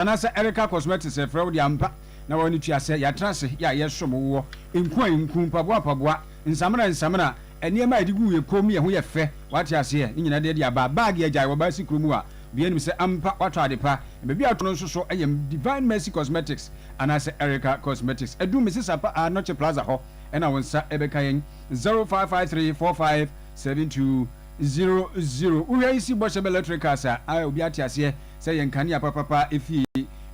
Anaasɛ ɛreka cosmetics a ɛfrɛ wo de ampa na wɔ no tua sɛ yɛatra ase yɛ a yɛsom wo wɔ nku a nku, mpaboa mpaboa, nsamena nsamena, nneɛma a yɛde gu yɛn kɔn mu yɛ ho yɛ fɛ wate aseɛ ne nyinaa de de aba bag agyae wɔ baa si kuro mu a obiara nim sɛ ampa watɔ ade pa na baabi a watɔ no nso so ɛyɛ Divine Mercy Cosmetics anaasɛ Erica Cosmetics ɛdu Mrs Apa a Noche Plaza hɔ ɛna wo nsa ɛbɛka yɛn zero five five three four five seven two zero zero wohwɛ yi si bɔhyɛ bɛ electricals a obiara te aseɛ sɛ yɛ nkanea papapa efie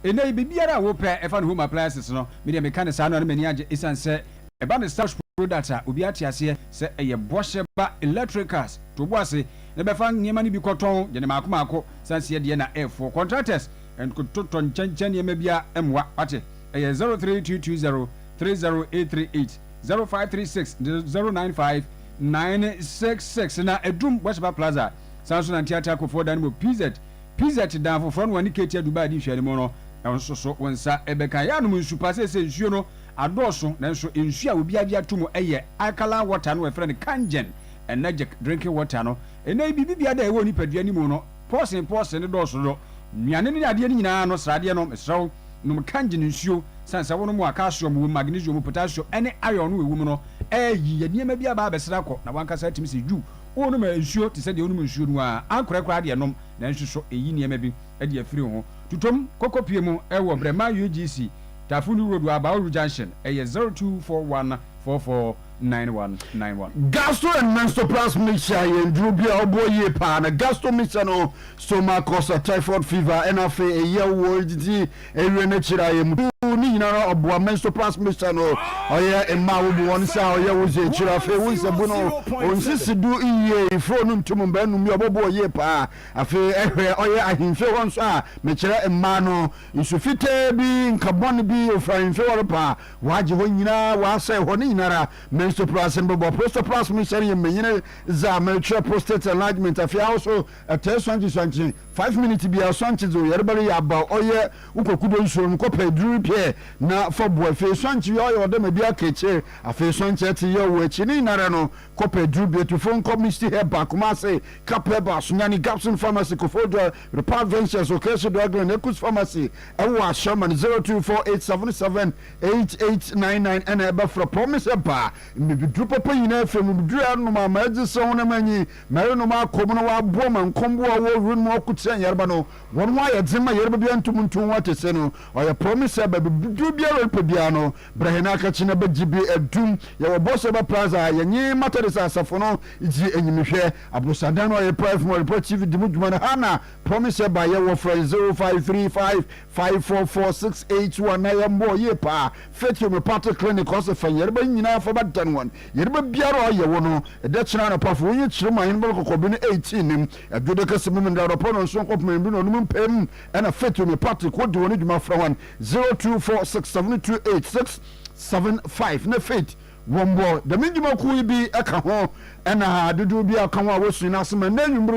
enɛ yi biribiara a wo pɛ ɛfa no home appliances no me deɛ me ka no saa no a na m'ani agye esiane sɛ ɛba no Starch products a obiara te aseɛ sɛ ɛyɛ bɔhyɛ ba electricals to wo bo ase na bɛfa nneɛma no bi kɔ tɔn deɛ no maako maako san seɛ deɛ na ɛfoɔ contractors ntotɔ nkyɛnkyɛn nneɛma bia mmoa wate ɛyɛ zero three two two zero three zero eight three eight zero five three six zero nine five nine six six na ɛdum bɔhyɛ ba plaza. Saa nso na Nteatea Kofoɔ da no mu PZ, PZ dan foforɔ no wɔne Ketia Dubai di nhwɛanimu no, ɛhɔ nso so wo nsa bɛka. Yɛanom nsu pa, seesei nsuo no adɔɔso nanso nsuo a obiara gye ato mu yɛ alkaline water no a wɔfrɛ no Kangen Energic drinking water no. Ɛnnɛ yi biribi biara da a ɛwɔ nipadua no mu no, pɔɔsen pɔɔsen no dɔɔso dodo. Nnuane ne adeɛ no nyinaa no, sradeɛ no, mesrɛ wo nom Kangen nsuo sane sɛ wonom a calcium wɔ mu, magnesium, potassium ne iron no wɔ mu no, ɛɛyi yɛ nneɛma bi aba abɛsra kɔ na w'ankasa atumi sɛ yuu Wonom nsuo te sɛ deɛ wonom nsuo no ara, ankorɛ koraa deɛ nom, nanso so ɛyi nneɛma bi de afiri ho? Tutom kɔkɔ pie mu wɔ Brɛma UGC, Tafundu Road wɔ Abauru Junction, ɛyɛ zero two four one four four nine one nine one. Gastro and Menstrual Plus Mixture yɛ nnuro bi a ɔboɔ yie paa. Na Gastro Mixture no, Stomach Ulcer, Typhoid Fever, ɛna afei ɛyɛ wo nti. Ewie n'ekyir a yɛ mutuu ne nyinara ɔboa menstoplas mixture no ɔyɛ mma a wobu hɔn sɛ a ɔyɛ wo dze ekyir afei wo nsabu no onnsisi do yie ifuro no ntum mbaanum yi ɔbɔboa o yie paa afei ehwɛ ɔyɛ ahemfie hɔ nso a mekyerɛ mmaa no nsu fitaa bi nkabɔn bi ofi ahemfie hɔ reba a wɔagye hɔ nyina wɔasɛe hɔ ne nyinara menstoplas mbɔbɔ prostoplas mixture no yɛ mbanyin dze a merekyerɛ prostate enlargement afei ahoso Ɛtɛɛ sɔnkye sɔnkye five minutes biaa sɔnkye dze oyarba reyɛ aba ɔyɛ wo kwakudo nsuo no kɔpɛ eduru ripɛɛ na fa bu afei sɔnkye yɛ ɔyɛ ɔdɛ ma bi aka ekyir afei sɔnkye ɛtse yɛ ɔwɔ ekyir ne nyinara no kɔpɛ eduru bietu fo nkɔ Misty Herbal Kumasi Cap Herbal Sunyani Gapson Pharmacy Koforidua Re Repair Ventures Okreshi Dwaglen Ekus Pharmacy ɛwɔ Ashaiman zero two four eight seven seven eight eight nine nine ɛna ɛbɛfrɛ Promise Herbal mbibiduru papa nyinaa firi mbibiduru a ɛnom a ma edze sɛ wo nam enyi Mɛyerenom akɔ mu na wɔaboa ma nkɔmbowa a ɔwɔ wen mu ɔkotsia nyarba no, hɔn ho ayɛ dzen ma yarba biara nntum nnto hɔn akɛse no. Ɔyɛ promise sɛ baabi dur biara a orepɛ biara no, bra hɛn akɛkye na bɛgye bi edum. Yɛwɔ Borseba Plaza a yɛnye Methodist asafo no dzi enyimhwɛ. Aborosandan no a ɔyɛ Prayer from Areprɛ TV dzi mu dwuma no, Hannah promise sɛ ba yɛwɔ frɛ zero five three five Five four four six eight two a na yɛn bɔɔ yie paa Faith Homeopathic Clinic ɔse fa nyɛreba nyinaa fa ba dan wɔn nyɛreba biara a ɔyɛ wo no ɛdɛ kyena anɔpa fa wonyi kyerem ahen bɛn kɔkɔɔ bi no eighteen nim adwode kɛse mum ndra anɔpa no nson kɔpem anwumbi na ɔnom mpɛɛm ɛna Faith Homeopathic wodi wɔn dwuma frɛ wɔn zero two four six seven two eight six seven five na Faith Wɔbɔ dɛm ndwumakuw yi bi ka ho na dodow bi a ɔka ho a wosua no ase ma ndɛ ewimbir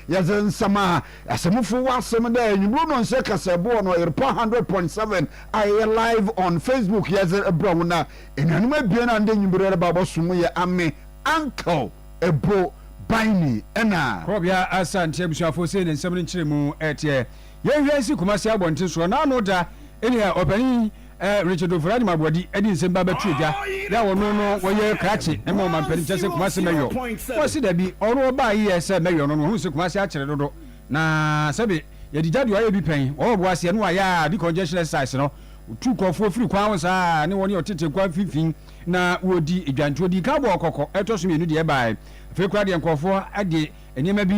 yi yɛdze nsɛmma Asɛmfo wɔ asɛm dɛ ewimbir no nhyɛ kasabu wɔ no ɔyerpa hundred point seven a yɛyɛ live on Facebook yɛdze brɛ hɔn a enuanom ebien a ndɛ ewimbir yɛreba abɔsom yɛ ame uncle Ebo Baini na Kɔbea Asante ebusuafo sei na nsɛm no nkyerɛmu tseɛ yɛnhwɛ nsi Kumasi abɔnten soɔ na ano da nea ɔpanin Ɛ Richard Ofori-Anim Aboadi de nsɛm bi abɛto dwa yɛ a ɔno no ɔyɛ krakye ma ɔmampanin kyɛ sɛ Kumasi Mɛyɔ. Ɔse dabi ɔno ɔbaa yi yɛ sɛ Mɛyɔ no na ɔhunu sɛ Kumasi akyere dodo na sɛbe yɛde gya deɛ ɔayɛ bi pɛn ɔwɔ ɔbo aseɛ na wayɛ a decongestion exercise no ɔtu nkurɔfoɔ firi kwan ho saa ne wɔne ɔtete nkwa mfimfini na wɔdi dwa nti ɔdii kan bɔɔ kɔkɔ ɛtɔ so mmienu deɛ ɛbaaɛ afei koraa deɛ nkurɔfoɔ de Nneɛma bi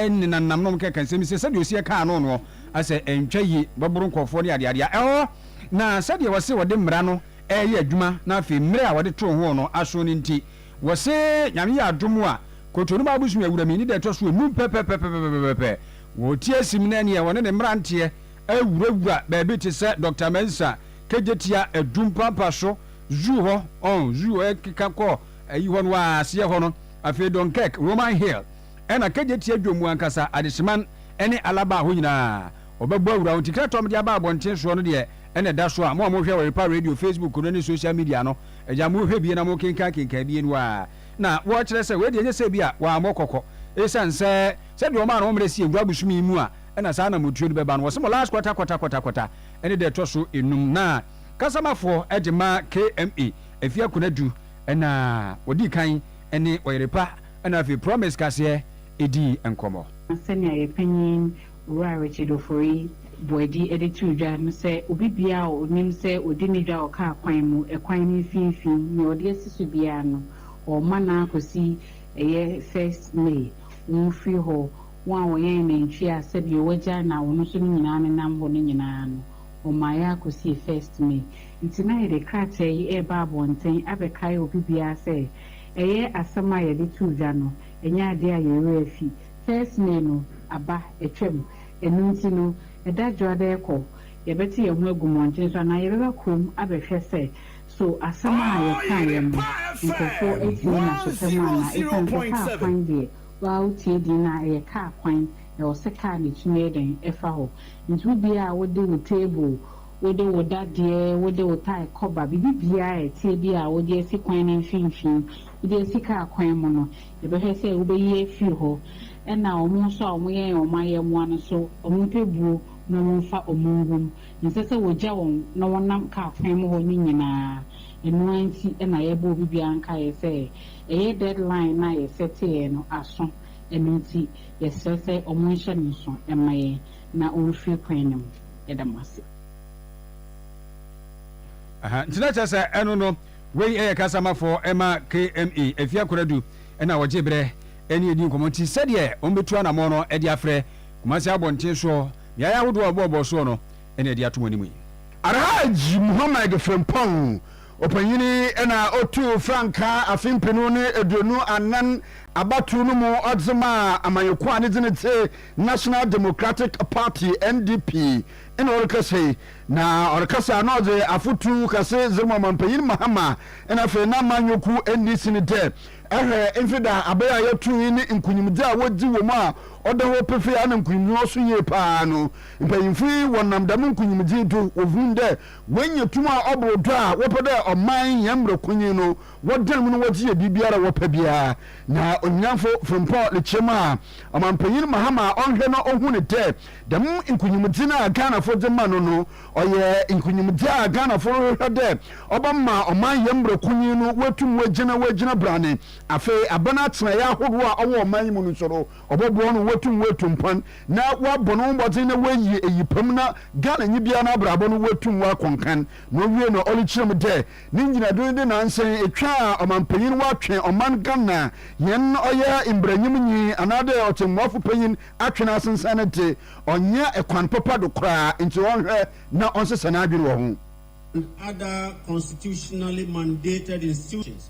nenanam na wɔkeka nsɛm bi sɛ sɛdeɛ ɔsi ɛkaa ano noɔ, asɛ ɛntwa yie, bɛboro nkɔɔfoɔ ne adeade a ɛhɔ na sɛdeɛ wɔse wɔde mmara no ɛɛyɛ adwuma na afei mmerɛ a wɔde too ho no aso no nti wɔse Nyame yɛ adom a Kotonuma abosomi awurami ne da ɛtɔ so enum pɛpɛpɛpɛpɛpɛpɛpɛ wɔretia sim na ɛneɛ wɔne ne mmeranteɛ awurawura baabi te sɛ Doctor Mensah Kegyetia Adum Pampa so Zoo hɔ ɔn Zoo ɛkeka kɔ ayi hɔ no aseɛ hɔ no Afei Dunkirk, Roman Hill, ɛna Kejetia dwom mu ankasa, Adehyeman ne Alaba hɔ nyinaa, wɔbɛbɔ awura wo nti kra tɔm de aba abɔnten soɔ no deɛ ɛna ɛda so a mo a mo hwɛ Oripa Radio Facebook no ne social media no agya mo hwɛ bie na mo kenkan kenkan bie no ara na wɔ kyerɛ sɛ wei deɛ ɛnyɛ sɛ bi a wɔ ammɔ kɔkɔ ɛsiane sɛ sɛdeɛ wɔn a no mmerɛ sie nkura bosom yi mu a ɛna saa na motuo no bɛba no wɔ se mo last kɔta kɔta kɔta kɔta ɛne deɛ ɛtɔ so enum na kasamafoɔ de ma KMA Afia Konadu. na wɔdii kan ne Ɔyerepa na afei Promise Kaseɛ dii nkɔmmɔ. Sɛnea yɛn panyin Owura Richard Ofori Boadi de too dwa no sɛ, Obi biara a ɔnim sɛ ɔdi ne dwa wɔ kaa kwan mu, ɛkwan no mfinimfini, nea ɔde asi so biara no, ɔrema no ara kɔsi ɛyɛ First May, wɔmfiri hɔ, wɔn a wɔyɛn nantwie a sɛdeɛ wɔagya na wɔn nso no nyinaa nenam hɔ no nyinaa no, wɔmaeɛ ara kɔsii First May. Enti na yɛde krataa yi reba abɔnten abɛkae obi biara sɛ ɛyɛ asɛm a yɛde too dwa no, ɛnyɛ ade a yɛn werɛ afi. First May no aba, atwam. Ɛno nti no, ɛda dwoada rekɔ, yɛbɛte yɛn ho agu mmɔnten so anaa yɛbɛba kurom abɛhwɛ sɛ so asɛm a yɛkaeɛ no, nkurɔfoɔ atie no asopa mu anaa. Ɛsiane sɛ kaa kwan deɛ, wo ara wotie din no a, ɛyɛ kaa kwan, na ɛwɔ sɛ kaa no tumi yɛ dɛn? Ɛfa hɔ. Enti wobiara a wode wo table Wode wo dadeɛ, wode wo tae kɔba, biribi biara a ɛteɛ bi a wode asi kwan no mfimfini, wode asi kaa kwan mu no, yɛbɛhwɛ sɛ wobɛyi afiri hɔ. Ɛna wɔn nso a wɔyɛn wɔn ayɛmmoa no nso, wɔmpɛ buo na wɔmfa wɔn ngu mu. Ɛnsɛ sɛ wɔgya wɔn na wɔnam kaa kwan mu hɔ no nyinaa. Ɛno ara nti na yɛrebɔ obi biara nkaeɛ sɛ, ɛyɛ deadline no a yɛsɛteeɛ no aso, ɛno nti yɛsrɛ sɛ wɔnhyɛ no nso mma yɛn. na ɔrefiri kwan no mu. Yɛda mo ase. Aha nti na kyerɛ sɛ ɛno no wei ɛyɛ kasamafɔɔ ɛma KMA ɛfie akoradu ɛna wɔgye berɛ ɛne ɛdi nkɔmɔ nti sɛdeɛ wɔn bɛtu anamɔn no ɛde afrɛ Kumasi abɔnten soɔ beaeɛ ahodoɔ a wɔbɔɔbɔɔ soɔ no ɛna ɛde ato mo anim yi. Alhaji Muhammad Frimpong Ɔpanyin yi na otuu frankaa afe mpenu ne eduonu anan abatow no mu ɔdze maa amanyɛkuw a ne dzin tse National Democratic Party, NDP, nna ɔrekasa yi. Na ɔrekasa na ɔdze afotu kɛse dze rema ɔmampanyin Mahama na afei n'amanyɛkuw NDC no dɛ, Ehwɛ mfe da aber a yɛtoo yi ne nkunyimdzi a wodzi wɔ mu a ɔda hɔ pefee a nna nkunyimdzi no so yie paa no. Mpanyimfo yi wɔnam dɛm nkunyimdzi yi do wohun dɛ Woenya tum a ɔbor do a wɔpɛ dɛ ɔman hɛn mbrakonyin no wɔdan mu na wɔdze yɛ biribiara a wɔpɛ biara. Na Onyinamfo Frimpong rekyerɛ mu a, Ɔmampanyin Mahama a ɔnnhwɛ no ohun no dɛ dɛm nkunyimdzi no a Ghanafo dze ma no no, ɔyɛ nkunyimdzi a Ghanafo rohwehwɛ dɛ ɔbɛma ɔman hɛn mbrakonyin no woetum woegyina woegyina brane. Afei, aban atsenae ahorow a ɔwɔ ɔman yi mu no so no, Ɔbɔboa no ma oetum oetu mpon na ɔabɔ no ho mbɔdzen na oeyi eyi pa mu na Ghananyi biara n'abrabɔ no oetum oakɔ nkan. Na owie no, Olli kyerɛ mu dɛ ne ngyinado nye dɛ nansɛ etwa a ɔmampanyin ɔatwe ɔman Ghana hɛn ɔyɛ mbranyimnyi anaadɛ ɔtsɛmbuafo panyin atwe no asensɛn no dze, ɔnnyɛ kwan papa do koraa, ntsi ɔnhwɛ na ɔnsesa n'adwen wɔ ho. and other constitutionally mandated institutions.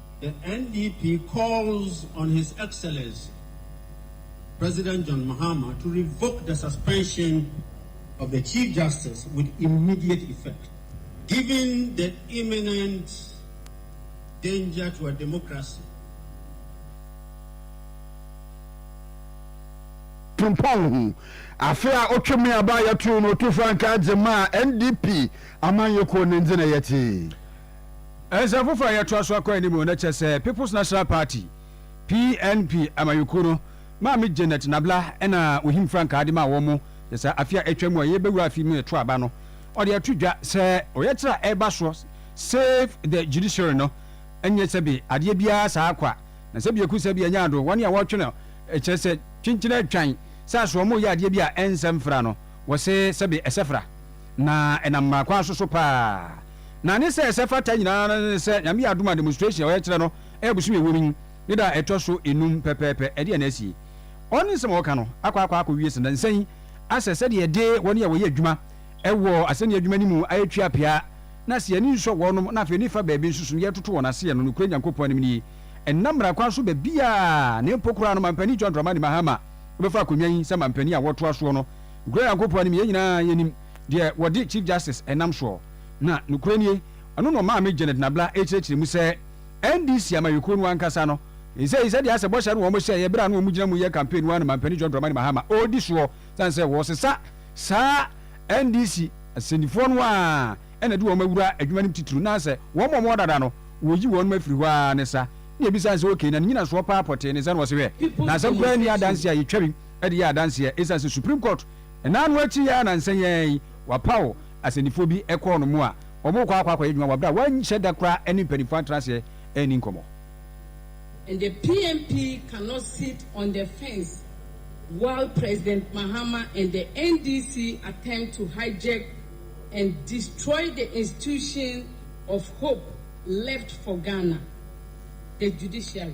The NDP calls on His Excellency President John Mahama to revoke the suspension of the Chief Justice with immediate effect, given the imminent danger to our democracy. Frimpong ho. Afe a otwa mu aba a yɛtoo no otu frankaa dze maa NDP amanyɛkuw ne ndze na yɛtse. Nsɛm foforɔ a yɛtoa so akɔ anim na kyerɛ sɛ People's National Party, PNP, amanyɔkuo no, Maame Janet Nabla na ɔhim frankaa de maa wɔn sɛ saa afe a atwa mu a yɛrebɛwura afe mu ɛto aba no, ɔde ato dwa sɛ ɔyɛkyerɛ a ɛreba soɔ, Save the Judiciary, no nyɛ sɛbe adeɛ biara saa kwa, na sɛbe aku sɛbe anya ado, wɔn a wɔretwe no kyerɛ sɛ kyenkyen atwan sɛ aso wɔreyɛ adeɛ bi a ɛnsɛ mfra no, wɔse sɛbe ɛsɛ fra. Na ɛnam mmaa kwan so so paa. Na ne sɛ ɛsɛ fata nyinaa no ne sɛ Nyame yɛ adom a demonstration a ɔyɛ kyerɛ no ɛyɛ bosome a ɛwɔ mu yi ne da a ɛtɔ so enum pɛpɛɛpɛ ɛdeɛn na asie. Ɔn ne nsɛm a ɔka no akɔ akɔ akɔ wie sɛ nansa yi asɛ sɛdeɛ yɛde wɔn a wɔyɛ adwuma ɛwɔ asɛnni adwuma no mu ayɛ twi apea na asɛ yɛani nsɔ wɔnom na afei ne fa baabi nso so no yɛretoto wɔn aseɛ no nokorɛ Nyankopɔn anim nie ɛnam mmara kwan so baabiara na mpo koraa no Mampanin John Dramani Mahama bɛfa akonnwa yi sɛ mampanin a wɔtoa soɔ no Nokorɛ Nyankopɔn nim, yɛn nyinaa yɛnim, deɛ wɔde Chief Justice ɛnam soɔ. Na nokorɛ nie, ɔno na ɔmaa me Janet Nabla kyerɛkyerɛ mu sɛ NDC amanyɔkuo no ankasa no nsɛi sɛdeɛ asɛ bɔhyɛ no wɔn hyɛeɛ berɛ a na wɔn gyina mu yɛ campaign no ara na Mampanin John Dramani Mahama ɔredi soɔ sane sɛ wɔresesa saa NDC asɛnnifoɔ no ara na ɛde wɔn awura adwuma no mu titiriw na sɛ wɔn a wɔwɔ dada no wɔyi wɔn afiri hɔ ara ne sa na yɛbisa no sɛ okay na ne nyinasoɔ paa pɔtee ne sɛ na ɔse hwɛ na asɛm koraa nni adanseɛ a yɛtwa bi de yɛ adanseɛ ɛsiane sɛ Supreme Court na ano akyi yi ara nnansa yi ara yi wɔapaw asɛnnifoɔ bi kɔɔ no mu a wɔrekɔ akɔ akɔyɛ adwuma wɔ berɛ a wɔanhyɛ da koraa ne mpanimfoɔ antena aseɛ anni nkɔmmɔ. And the PMP cannot sit on the fence while President Mahama and the NDC attempt to hijack and destroy the institution of hope left for Ghana, the judiciary.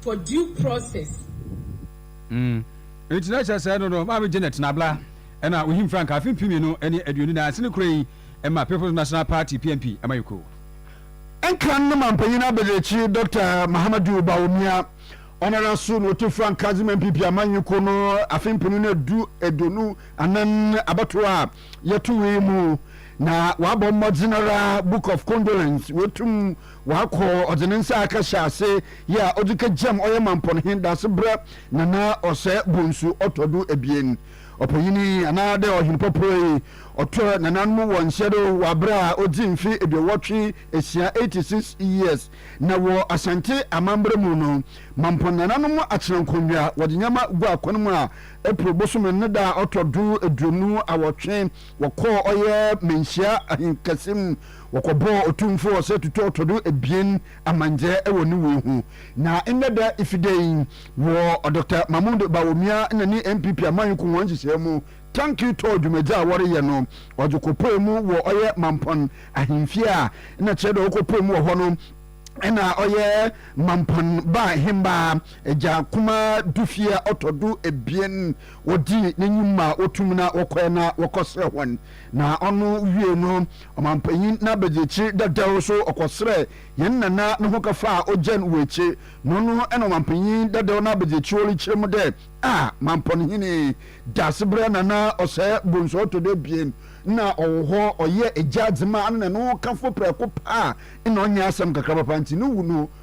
for due process. Mm. Nti na kyerɛ sɛ ɛno no Maame Janet Nabla ɛna ohim frankaa afe mpem mmienu ne aduonu nan sene kura yi ma People's National Party, PNP, amanyɔkuo. Nkran ne mampanyin abadirekyiri Dɔkta Mahamadou Bawumia ɔnoara nso na otu frankaa dze ma NPP amanyɔkuo no afe mpenu ne du aduonu anan abatoɔ a yɛtoe yi mu na wabɔ mmɔdzen ara Book of Condolence woetum Ɔakɔ ɔdze ne nsa aka hyɛ ase yɛ a ɔdze kegyam ɔyɛ mampɔn he daasebrɛ Nana Ɔsɛ Bonsu ɔtɔ do ebien ɔpanyin yi anaa dɛ ɔhen pɔprɔ yi ɔtɔ nananom wɔ nhyɛ do wɔ aber a odzi mfe eduowɔtwe esia, eighty six years, na wɔ Asante amambra mu no mampɔn nananom atsena nkonnwa wɔdze nyɛma gu akwan mu a April bosoom no ne da a ɔtɔ do eduonu awɔtwe wɔkɔɔ ɔyɛ manhyia ahenkɛse mu Wɔkɔbɔɔ Otumfoɔ sɛ tutɔɔ tɔdo ebien amandzɛɛ wɔ ne wu ho. Na ndɛ da Ifide yi, wɔ Dɔkta Mahmoud Bawumia na ne NPP amanyɔku hɔn nhyehyɛɛ mu, tanki tɔɔ dwumadzi a wɔreyɛ no, ɔdze kɔpuee mu wɔ ɔyɛ Mampɔn ahemfie a nna kyerɛ dɛ ɔkɔpuee mu wɔ hɔ no, nna ɔyɛ Mampɔn baa hembaa Agya Kumaa Dufie a ɔtɔ do ebien, wɔdzii n'enyim ma wotum na wɔkɔe na wɔkɔserɛ hɔn. Na ɔno wiei no, ɔmampanyin n'abadiekyir dadaw so ɔkɔserɛɛ hɛn nana no hokafaa a ogyan wɔ ekyir, na ɔno na ɔmampanyin dadaw n'abadiekyir orikyerɛ mu dɛ, Ah, mampɔn hene, Daasebrɛ nana ɔsɛɛ bonsu a ɔtɔ do ebien, nna ɔwɔ hɔ, ɔyɛɛ egya dze maa no na no hokafo prɛko pɛ a nna ɔnnyɛ asɛm kakra papa ntsi no wu no,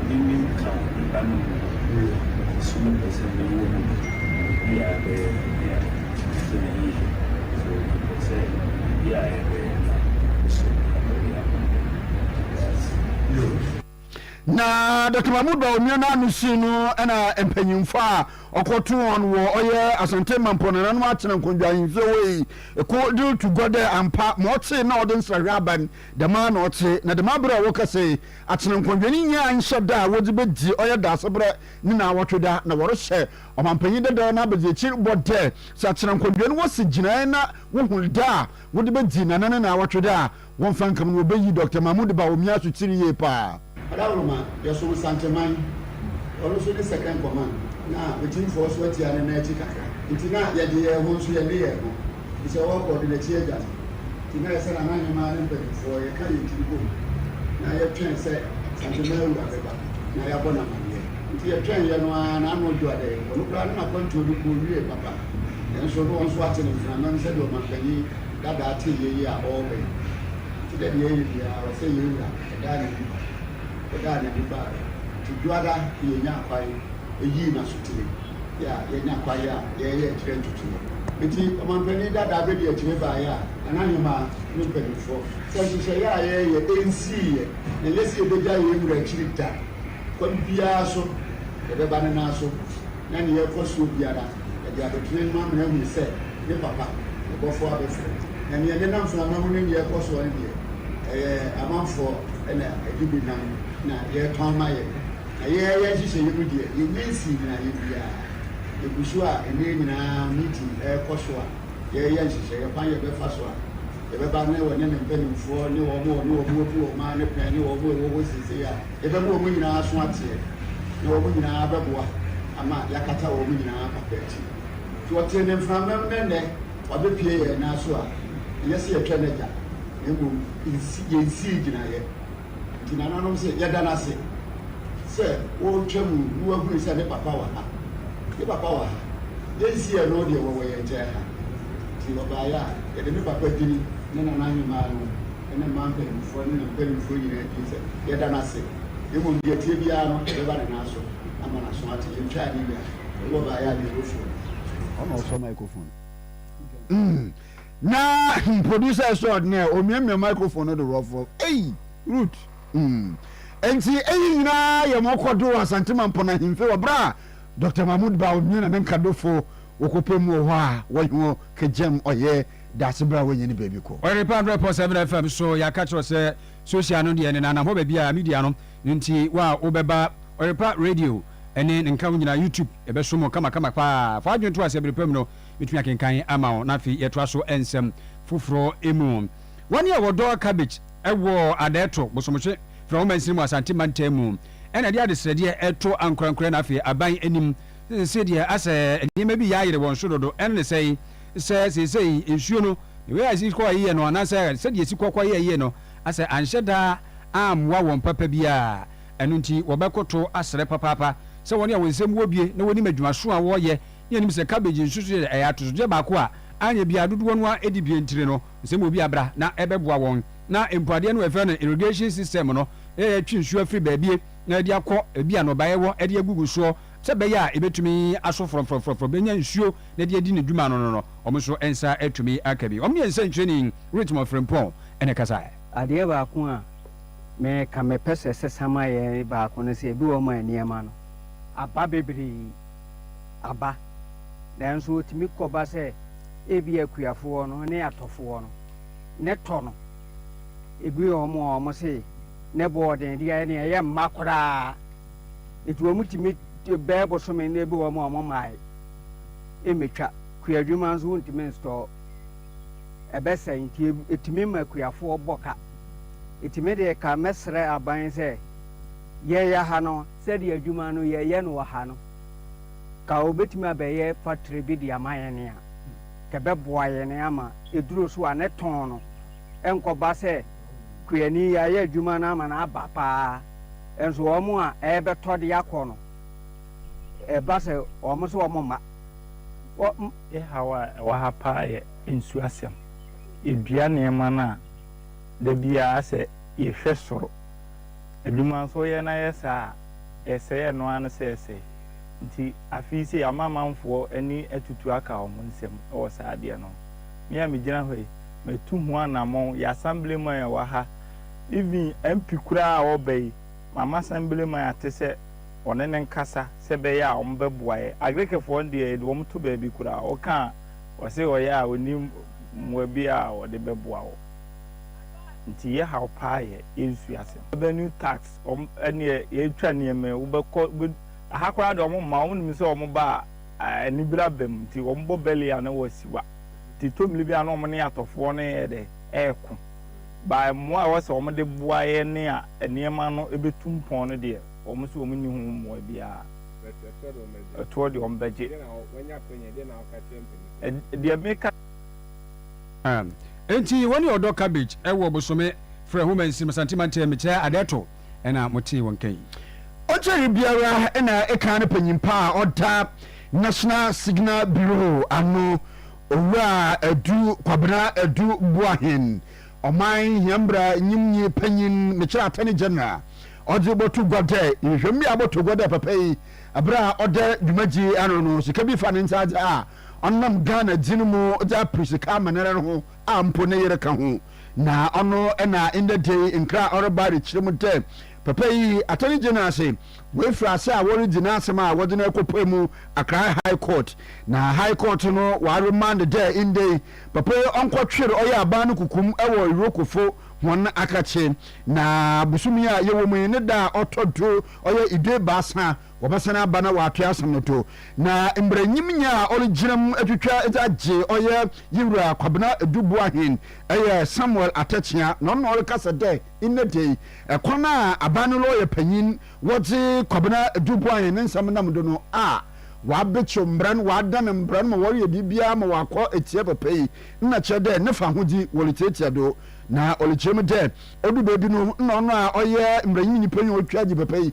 Ɔne me nka nna no mu bere a ɛso no pɛ sɛ mewɔ mu no, biribiara bɛyɛ me dea. Sɛ yiye, sɛ mepɛ sɛ biribiara a yɛbɛyɛ no kɔ so na ɛyɛ ama me no, meda ase. Yoof. Na Dɔkta Mahmood Ba Onua no ano sii no na mpanyimfo a ɔkɔtoo hɔn wɔ ɔyɛ Asantee Mampɔn nananom atsena nkɔndwa ahemfie hɔ yi ko dze rutu gua dɛ ampa ma ɔtse na ɔdze nsrahwɛ aba n' dɛm ara na ɔtse na dɛm aber a wɔkasa yi Atsenankɔdwe ne nyia nhyɛ da a wɔdze bedzi ɔyɛ Daaseberɛ ne Naawɔtweda, na wɔrehyɛ Ɔmampanyin Dadaw no abadziekyir bɔ dɛ sɛ Atsenankɔdwe no wosi gyinae na wohu da a wɔdze bedzi Nana ne Naawɔtweda a wɔmmfa nnkam no, wobeyi Dɔkta Mahmood Bawumia Asotsir yie paa. Adaworoma, yɛsom Nsanteman, ɔno so ne second command, na me teamfoɔ so atia ne nan akyi kakra, nti na yɛgye yɛn ho nso yɛne yɛn ho. Efisɛ ɔrekɔ de n'akyi agya no nti, na ɛsɛ sɛ n'ahemmaa ne mpanimfoɔ yɛka yɛn tiri bom na yɛtwɛn sɛ ahemmaa wura bɛba na yɛabɔ no amanneɛ. Enti yɛtwɛn yɛ no ara, na ano dwo ada yi. Ɔno koraa ne n'akwantuo no kɔɔ wiee papa, nanso na wɔn nso ate ne mframa mu sɛdeɛ ɔmanpanin dadaa tee yɛ yi a ɔreba yi. Enti dɛ deɛ ɛyɛ biara, ɔsɛ yɛn wura. Ɔdaa n'ani ba, ɔdaa n'ani baa yɛ nti dwoada yɛnyaa kwan. Eyi na sotire a yɛanya kwae a yɛreyɛ akyerɛ ntutu no. Enti ɔmampanin dadaa bedi akyire baeɛ a na n'ahemmaa ne mpanimfoɔ sɛ nhyehyɛeɛ a yɛreyɛ nsiiɛ na ɛnyɛ sɛ yɛbɛgya yɛn wura akyiri da. Kwan biara so yɛbɛba ne nan so na nea ɛkɔ soɔ biara yɛde abɛtena anim ama no ahunu sɛ ne papa, ne bɔfoɔ abɛfrɛ. Na nea ɛnenam mframa mu ne nea ɛkɔ soɔ no deɛ, ɛyɛ amanfoɔ na ɛde bi nam na yɛretɔn ama yɛn. Na yɛn yɛn nhyehyɛeɛ mu deɛ, yɛnnya nsii gyinaeɛ biara. Yɛgu so a, nneɛ nyinaa meeting rekɔ so a, yɛreyɛ nhyehyɛeɛ kwan yɛbɛfa so a yɛbɛba ne wɔne ne mpanimfoɔ ne wɔn a wɔne wɔn abu wɔn ara ne pɛn ne wɔn a ɛwɔ hɔ seesei a yɛbɛma wɔn nyinaa aso ateɛ na wɔn nyinaa bɛboa ama yɛakata wɔn nyinaa papa akyi. Nti ɔtee ne mframam na ɛnnɛ wabɛpue yɛn nan so a, ɛnyɛ sɛ yɛtwa no agya na mmom nsi yɛnsii gyinaeɛ. Enti nananom se, Yɛda no ase sɛ woretwa mu na woahunu sɛ ne papa wɔ ha. Ne papa wɔ ha. Yɛnsi ɛno deɛ wɔwɔ yɛn nkyɛn ha. Enti ɔbaeɛ a, yɛde ne papa din, ne nana ahemaa no, ne mmaa mpanimfoɔ ne ne mpanimfoɔ nyinaa din sɛ yɛda no ase. Mmom deɛ ɛteɛ biara no, ɛbɛba ne nan so ama no aso ate. Yɛntwaa ne wia. Ɔbaeɛ a, deɛ ɛwɔ fie no. Ɔna ɔsɔ microphone no. Na producer extraordinaire omiamia microphone no do rɔfrɔ ei Ruth mm. Ntsi iyi nyinara yɛ ma ɔkɔ do wɔ Asante Mampɔn Ahemfie wɔ ber a Doctor Mahmood Bawumia na ne nkadofo wɔkɔpɛ mu wɔ hɔ a wɔnye hɔn kegyam ɔyɛ dase ber a woennya ne beebi kɔ. Ɔyerepɛ hundred point seven FM so yɛaka kyerɛ wo sɛ social no deɛ nenam hɔ baabi a media no nti wo a wobɛba Ɔyerepɛ radio ne ne nka ho nyinaa YouTube yɛbɛsom wo kama kama paa fa adwene to aseɛ bere pa mu no Metumi akenkan ama wo na afei yɛtoa so nsɛm foforɔ mu. Wɔn a wɔdɔ cabbage wɔ Adaeɛto, Bosomhwe, Frahoma Nsini mu Asante mantam mu na ɛde adesrɛdeɛ reto ankorankorɛ na afei aban anim se deɛ asɛ nneɛma bi yɛayere wɔn so dodo ɛno ne sɛi sɛ seesei nsuo no ne wei a ɛsi kɔ yie no anaasɛ sɛdeɛ ɛsi kɔ kɔ yɛ yie no asɛ anhyɛ da ammoa wɔn papa biara ɛno nti wɔbɛkoto asrɛ papaapa sɛ wɔn a wɔn nsam wɔ due na wɔnim adwumaso a wɔyɛ Yenim sɛ cabbage nsusu yɛ ɛyɛ atosodeɛ baako a anyɛ biara dodoɔ no ara di bi ntire no nsɛ ma obi abra na ɛbɛboa wɔn na mpo adeɛ no ɛfrɛ no irrigation system no yɛ twe nsuo afiri baabie na ɛde akɔ baabi a nɔbaeɛ wɔ ɛde agugu soɔ sɛ bɛyɛ a ɛbɛtumi aso frɔmfrɔmfrɔmfrɔm bɛnya nsuo na ɛde adi ne dwuma no no no wɔn nso nsa atumi aka bi wɔn ne nsɛnkyerɛni Ritmon Frimpong na ɛkasaɛ. Adeɛ baako a me ka mepɛ sɛ ɛsɛ sama yɛ baako no sɛ ebi wɔ ma nneɛma no aba bebree. aba. Nanso etumi kɔba sɛ ebia akuafoɔ no ne atɔfoɔ no ne tɔ no. Ebi wɔ hɔ a wɔse ne bo wɔ den de ayɛ nea ɛyɛ mma koraa. Enti wɔtumi bɛyɛ bosome na ebi wɔ hɔ a wɔmmae mmɛtwa. Kuadwuma nso wontumi nsitɔɔ. Ɛbɛsɛe nti etumi ma akuafoɔ bɔ ka. Etumi de ka mɛsrɛ aban sɛ. Yɛyɛ ha no, sɛdeɛ adwuma no yɛyɛ no wɔ ha no, ka wɔbɛtumi abɛyɛ factory bi de ama yɛn a, nka ɛbɛboa yɛn ama aduro so a ne tɔn no nkɔba sɛ kuani yɛayɛ adwuma no ama no aba pa ara, nso wɔn a ɛrebɛtɔ de akɔ no, ɛba sɛ wɔn nso wɔn mma. Wɔn. Yɛn haw a ɛwɔ ha pa ara yɛ nsuo asɛm. Yɛdua nneɛma no a, da biara sɛ yɛhwɛ soro. Adwuma nso yɛ na yɛ saa a, yɛsɛe ɛno ara no sɛɛsɛe. Nti afei sei Amanamanfoɔ ani atutu aka wɔn nsam wɔ saa adeɛ no ho. Me a megyina ha yi, matu ho anamɔn, yɛ Assemblyman a ɛwɔ ha, even MP koraa a ɔreba yi, mama Assemblyman ate sɛ wɔne no nkasa sɛ ɛbɛyɛ a wɔbɛboa yɛ. Agrikifoɔ no deɛ yɛde wɔn to baabi koraa, woka a wɔse ɔyɛ a ɔnni mmoa biara a wɔde bɛboa wo. nti yɛ haw paa yɛ yɛnsua asɛm revenue tax wɔn ɛneɛ yɛtwa nneɛma yi wobɛkɔ wobɛ aha koraa deɛ wɔn mma wɔn nim sɛ wɔn ba a anibira bɛm nti wɔn bɔ bɛli a na wɔasiwa nti tɔmili bi a na wɔn ne atɔfoɔ no yɛ dɛ ɛɛko baa mmoa a ɛwɔ sɛ wɔn de boa yɛ ne a nneɛma no ɛbɛtu mpɔn no deɛ wɔn nso wɔn nni ho mmoa biara ɛtoɔ deɛ wɔn bɛgye deɛ meka. Enti wɔne ɔdɔ cabbage ɛwɔ bosome frɛ ho mansin masanti mantam mekyerɛ ade ɛto ɛna mo tee wɔn kan. Ɔkyere biara ɛna ɛka ne panyin pa a ɔda National Signal Bureau ano Owura Adu Kwabena Adu Boahen Ɔman Hiambra Nyimnyi Panyin mekyerɛ Attorney General ɔdze bɔto gua dɛ nhwehwɛmu bi a ɔbɔto gua dɛ papa yi bere a ɔda dwumadzi ano no sika bi fa ne nsa adze a Ɔnam Ghana dzin mu dze aper sika ama noara ho a mpo ne yer ka ho. Na ɔno na ndɛ da yi nkra a ɔreba rekyerɛ mu dɛ papa yi ato ne gye no ase. Oefir ase a woridzi n'asɛm a wɔdze no rekɔpue mu Accra High Court. Na High Court no wɔaremand dɛ ndɛ yi papa yi ɔnkɔtwer ɔyɛ aban no kukum wɔ Irokofo hɔn akakye. Na bosoom yi a yɛwɔ mu yi ne da a ɔtɔ do ɔyɛ Iduebiasa Wɔbɛsan aba na wɔatwe asɛm no to. Na mbrɛ nyim nyia a ɔregyina mu etwitwa dze agye ɔyɛ Yewura Kwabena Edu Boahen yɛ Samuel Atɛkyea na ɔno na ɔrekasa dɛ ndɛ da yi kwan a aban no lɔya panyin wɔdze Kwabena Edu Boahen ne nsɛm nam do no a wɔabekyew mbra no wɔadan mbra no ma wɔreyɛ biribiara ma ɔakɔ etsia papa yi nna kyerɛ dɛ ne fahodzi wɔretsiatsia do na ɔrekyerɛ mu dɛ odu beebi no nna ɔno a ɔyɛ mbranyimnyi panyin a otwitwa agye papa yi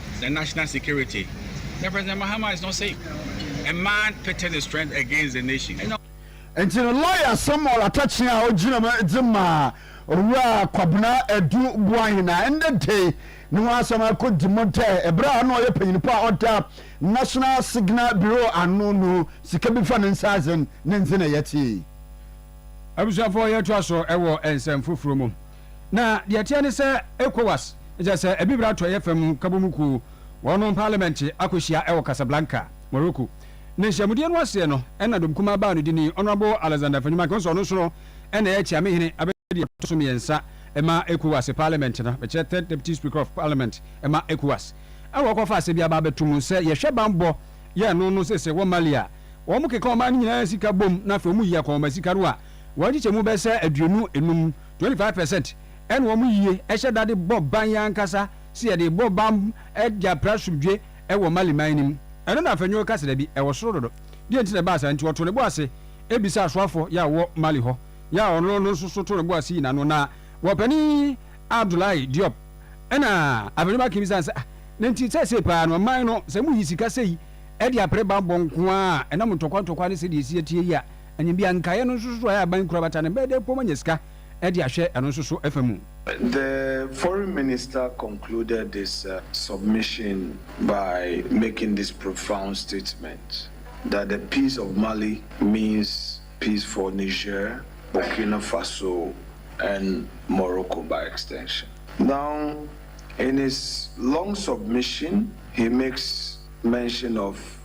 na national security na President Mahama is not safe. A man pitting his strength against the nation. Ɛna Nti no lawyer Samuel Atakyea a ogyina mu dze maa Owura Kwabena Adu Boahen a ndɛ da yi no ho asɛm akodi mu dɛ ber a nna ɔyɛ panyinmpa a ɔda National Signal Bureau ano no sika bi fa ne nsa adze n' ne ndze na yɛtsee. Abusuafo yɛtoa so wɔ nsɛm foforo mu. Na deɛ ɛteɛ ne sɛ Ecowas, kyerɛ sɛ Abibire Atɔeɛ Fam Nkabom Kuo, wɔnom parliament akɔhyia wɔ Casablanca, Morocco. Na nhyiamudie no aseɛ no na dɔm kumaa baa no de nii Honourable Alexander Afenyi Mankeh, ɔno nso ɔno nso no na ɛyɛ Kyame Hene abɛdi deɛ ɛtɔ so mmiɛnsa ma Ecowas parliament no, mekyerɛ Third Deputy Speaker of Parliament ma Ecowas. Ɛna wɔkɔfa asɛm bi aba abɛto mu sɛ yɛhwɛ banbɔ yɛ no no seesei wɔ Mali a, wɔkeka ɔman no nyinaa sika bom na afei wɔyi akɔnhoma sika no a wɔn nkyekyɛmu bɛyɛ sɛ aduonu enum Twenty five percent ɛna wɔn yie ɛhyɛ da de bɔ ban yɛn ankasa sɛ yɛde rebɔ ban de apere asomdwoe ɛwɔ Mali man no mu. Ɛno na Afenyo reka sɛ dabi, ɛwɔ soro dodo. Deɛ nti na ɛbaa saa nti, ɔtoo ne bo ase bisa asoafoɔ yɛ a wɔwɔ Mali hɔ yɛ a ɔno no nso so too ne bo ase yi n'ano. Na Wɔpanin Abdoulaye Diop ɛna Afenyo Makin bisaa no sɛ, ah, na nti seesei paa no ɔman no sɛ moyi sika sei de apere banbɔ nko ara a ɛnam ntɔkwa ntɔkwa ne sɛdeɛ ɛsi atie yi a, Ɛnyɛ bi a nkaeɛ no nso so a ɛyɛ aban kura bata no bɛyɛ dɛ mpo manya sika de ahwɛ ɛno nso so fa mu. The foreign minister concluded this submission by making this profound statement that the peace of Mali means peace for Niger, Burkina Faso and Morocco by extension. Now in his long submission he makes mention of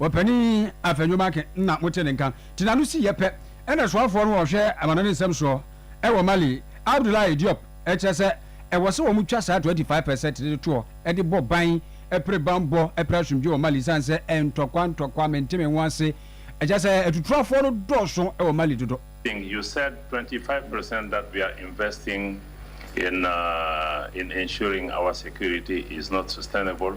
Ɔpanin Afenyo-Markin na mote ne nka. Te n'ano si yɛ pɛ na soafoɔ no a ɔhwɛ amanɔne nsɛm soɔ wɔ Mali, Abdoulaye Diop kyerɛ sɛ ɛwɔ sɛ wɔtwa saa 25 per cent no toɔ de bɔ ban pere banbɔ pere asomdwoeɛ wɔ Mali ɛsiane sɛ ntɔkwa ntɔkwa mentemenwo ase kyerɛ sɛ atutuafoɔ no dɔɔso wɔ Mali dodo. think you said twenty five percent that we are investing in in ensuring our security is not sustainable.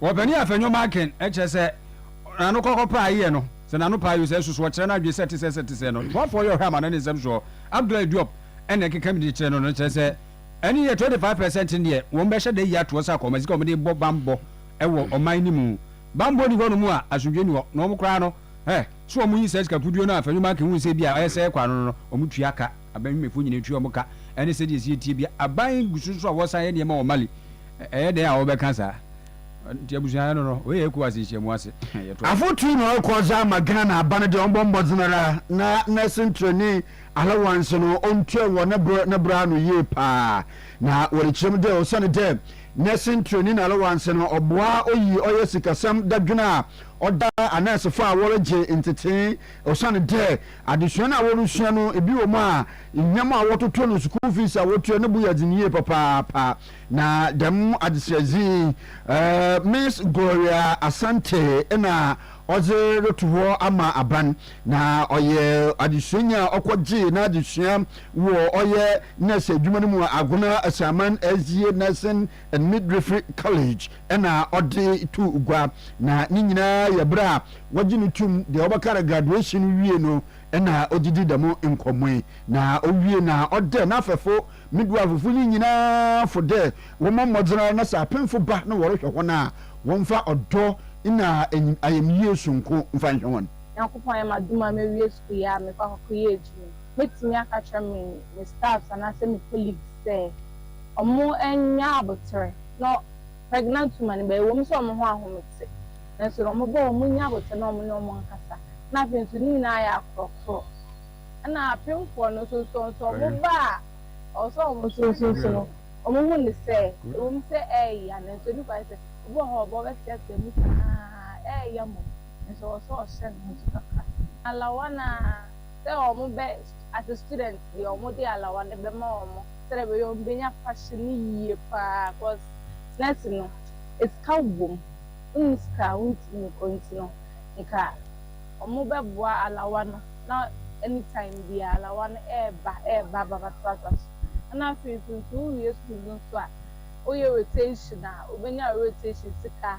Wɔ Panin Afɛ Nnwom Aken, kyerɛ sɛ, N'ano kɔkɔ paa yɛ no, sɛ n'ano paa yɛ sɛ ɛsoso hɔ kyerɛ n'adwene sɛ te sɛ sɛ te sɛ no. Boafoɔ yɛ ɔhwɛ ama no ne nsɛm soɔ. Abdoulaye Diop na ɛkeka mu de kyerɛ no no kyerɛ sɛ, Ɛno yɛ 25 per cent deɛ wɔn bɛhyɛ da ayi atoɔ sɛ akɔma sika a wɔde rebɔ banbɔ wɔ ɔman no mu. Banbɔ nni hɔ nom a, asomdwoeɛ nni hɔ. Na wɔn koraa no, eh, sɛ wɔyi saa sika kuduo no a Afɛ Nnwom Aken hu sɛ ebia ɔyɛ sɛ ɛrekɔ ano no no, wɔtua ka. Aban nnwumayɛfo nyinaa tua wɔn ka, ɛne sɛnea ɛsɛ yɛ tie bia. Aban gu so nso a wɔsan yɛ nneɛma wɔ Mali. Ɛyɛ dɛn a wɔbɛka saa? Nti abusua no no, wei yɛ Ecowas nhyiamu ase. Yɛtoa so. Afotu na ɔkɔ dze ama Ghana aban no dɛ ɔmbɔ mbɔdzen ara na nurse nturani allowance no ontua wɔ ne ber ne bra ano yie paa. Na wɔdze kyerɛ mu dɛ osiandɛ nurse nturani n'allowance no ɔboa oyi ɔyɛ sikasɛm dadwen a ɔda anɛɛsefo a wɔregye ntsetsee osiandɛ Adesua no a wɔresua no, ebi wɔ mu a, nhia mu a wɔtoto no, sukuu fees a wɔtua no bo yɛ dzen yie papaapa. Na dɛm adesua dzi yi, Miss Gloria Asante na ɔdze roto hɔ ama aban, na ɔyɛ adesuanyi a ɔkɔgyee n'adzesua wɔ ɔyɛ nɛɛse edwuma no mu wɔ Agona Asaman Azie Nursing and Midwifery College, na ɔde tu gua, na ne nyinaa yɛ bere a wɔgye no tom, deɛ wɔbɛka no graduation no wie no na ɔde di dɛm nkɔmmɔ yi, na ɔwie na ɔdɛ n'afɛfo midwifefo no nyinaa fo dɛ wɔmmɔ mmɔdzen ara na sɛ apemfo ba na wɔrehwɛ hɔn a, wɔmfa ɔdɔ na ayamyie soronko mfa nhwɛ hɔn. Nyankopɔn ayɛ m'adom a mawie sukuu yɛ a mekɔ akɔkɔyɛ adwuma yi, mɛtumi aka akyerɛ me me staffs anaasɛ me colleagues sɛ, Ɔmo nnya aboterɛ na pregnant woman ba ɛwɔ mu sɛ ɔmo ho ahomete nanso ɔmo ba ɔmo nnya aboterɛ na ɔmo ne ɔmo nkasa na afei nso ne nyinaa ayɛ akorɔkorɔ ɛna apemfoɔ no nso nso nso ɔmo ba a ɔwɔ sɛ ɔmo nso nso nso no ɔmo hu no sɛ ɛwɔ mu sɛ ɛɛya nanso ɛni kwan sɛ obi wɔ hɔ a ɔba ɔbɛteatea mu saa ɛɛya mmom nanso ɔwɔ sɛ ɔhyɛ ne ho so kakra na lawana. sɛ wɔn bɛ as students deɛ wɔn de alawade bɛ ma wɔn sɛdeɛ ɛbɛyɛ wɔn bɛ nya fashion no yie paa cos nurse no esika wom wonni sika a wontumi nkɔ nti no nka wɔn bɛ boa alawa no na any time biaa alawa no ɛɛba ɛɛba aba ba to asa so ɛna afei nso nso wo wie school no nso a wo yɛ rotation a wo bɛ nya wo rotation sika.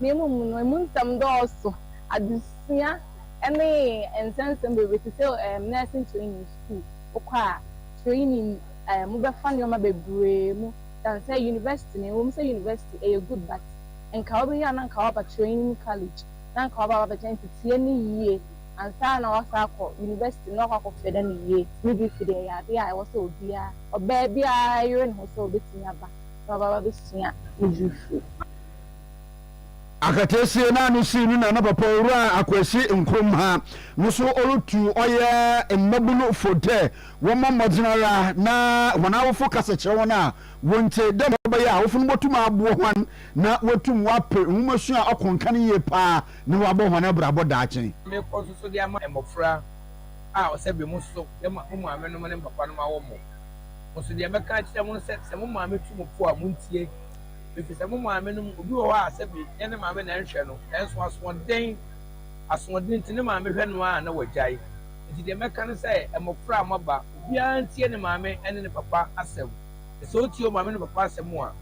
Ne mmom no, emu nsɛm dɔɔso, adesua ne nsɛnsɛm bebree te sɛ nursing training sukuu, wokɔ a, training a mobɛfa nneɛma bebree mu than sɛ university no, ɛwom sɛ university ɛyɛ good but nka wobɛwie a na nka woaba training college na nka woaba abɛkyɛ nti tie no yie ansa na woasan akɔ university na woakɔ akɔ fɛda no yie. Midwifery ɛyɛ adeɛ a ɛwɔ sɛ obiara, ɔbaa biara yere ne ho sɛ ɔbɛtumi aba na waba abɛsua midwifery. Akataasie no a no sii no na na papa owura Akwasi Nkrumah ha no so ɔretu ɔyɛ mmabunu fo dɛ wɔmmɔ mmɔdzen ara na hɔn awofo kasa kyerɛ hɔn a wɔnntsie dɛ mbrɛ ɔbɛyɛ a awofo no botum aboa hɔn na woetum wɔaper nwomasua ɔkõ nkan yie paa na wɔabɔ hɔn abrabɔ daakye. Mekɔ so so de ama mbofra a ɔsɛ bɛ mu so dɛ mo maamenom ne mo papanom awɔ mo. Mo so deɛ mɛka akyerɛ mo no sɛ, sɛ mo maame tu mo fo a, montie. Efisɛ mo maame no mu obi wɔ hɔ a sɛ ɛnyɛ ne maame na ɛnhwɛ no, nanso asoɔden, asoɔden nti ne maame hwɛ no ara na wagyae. Enti deɛ mɛka ne sɛ, mmɔfra a moaba, obiara ntie ne maame ne ne papa asɛm. Na sɛ ɔtie ɔmaame ne ne papa asɛm a,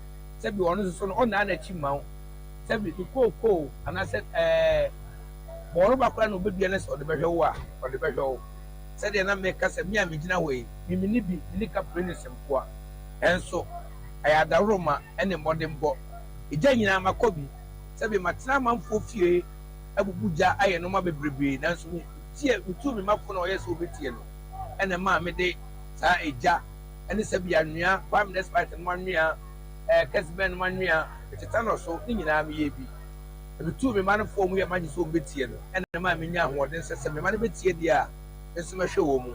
sɛbe ɔno nso so no, ɔnnan n'akyi mma wo. Sɛbe ne kookoo anaasɛ ɛɛ, bɔworoba koraa na ɔbɛdua na sɛ ɔde bɛhwɛ wo a, ɔde bɛhwɛ wo. Sɛdeɛ na meka sɛ me a megyina hɔ yi, me, mene bi, mene Kapernus nkoa. Nanso. Ɛyɛ adaworoma ne mmɔdenbɔ. Egya nyinaa ma kɔ bi. Sɛbe matena amanfoɔ fie abubu gya ayɛ nnoɔma bebrebee nanso me tie me tuu me mma fo na ɔyɛ sɛ ɔbɛtie no ɛna ɛmaa me de saa egya ne sɛbe anwea palm despite nom anwea ɛɛ kɛsebɛn nom anwea tetanus so ne nyinaa me yɛ bi na me tuu me mma no fo wɔn yɛ magye sɛ wɔn bɛtie no ɛna ɛmaa me nya ahoɔden sɛ sɛ me mma no bɛtie deɛ a me nso mɛhwɛ wɔn mu.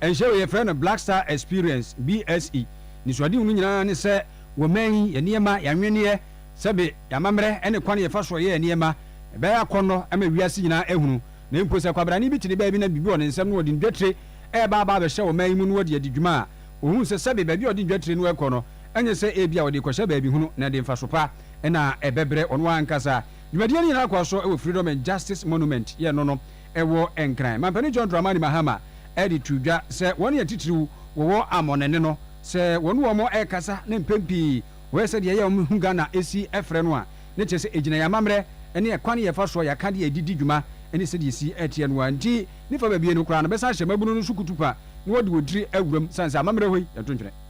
Ɛnhyɛ wei yɛfrɛ no Black Star Experience, BSE, Anisoadehu no nyinaa ne sɛ wɔ man yi yɛ nneɛma, yɛanweneɛ, sɛbe y'amammerɛ ne kwan yɛfa soɔ yɛ nneɛma, ɛbɛyɛ akɔnnɔ ma wiase nyinaa ahunu. Na mpo sɛ kwabrane bi te ne baabi na biribi wɔ ne nsam na ɔde ndwatire reba aba abɛhyɛ wɔ man yi mu na ɔde adi dwuma a, ɔhunu sɛ sɛbe baabi a ɔde ndwatire no rekɔ no ɛnyɛ sɛ ebia ɔde rekɔhyɛ baabi hunu na ɛde mfaso pa na ɛbɛbrɛ ɔno ankasa. Dwumadie no nyinaa kɔɔ so wɔ Freedom and Justice Monument, yɛn no no. ɛwɔ Nkran. Mampanin John Dramani Mahama de too dwa sɛ wɔn yɛ titiriw wɔwɔ amɔnɛne no sɛ wɔne wɔn rekasa ne mpɛn pii wɔyɛ sɛdeɛ ɛyɛ a wɔn hu Ghana si frɛ no a ne kyerɛ sɛ ɛgyina yɛn amammerɛ ne ɛkwan yɛ fa soɔ yɛaka de yɛde di dwuma ne sɛdeɛ ɛsi teɛ no ara nti ne fa babie no koraa no bɛsan ahyɛ mmabunu no so kutupa na wɔde wɔn tiri awura mu sane sɛ amammerɛ hɔ yi yɛnto ntwene.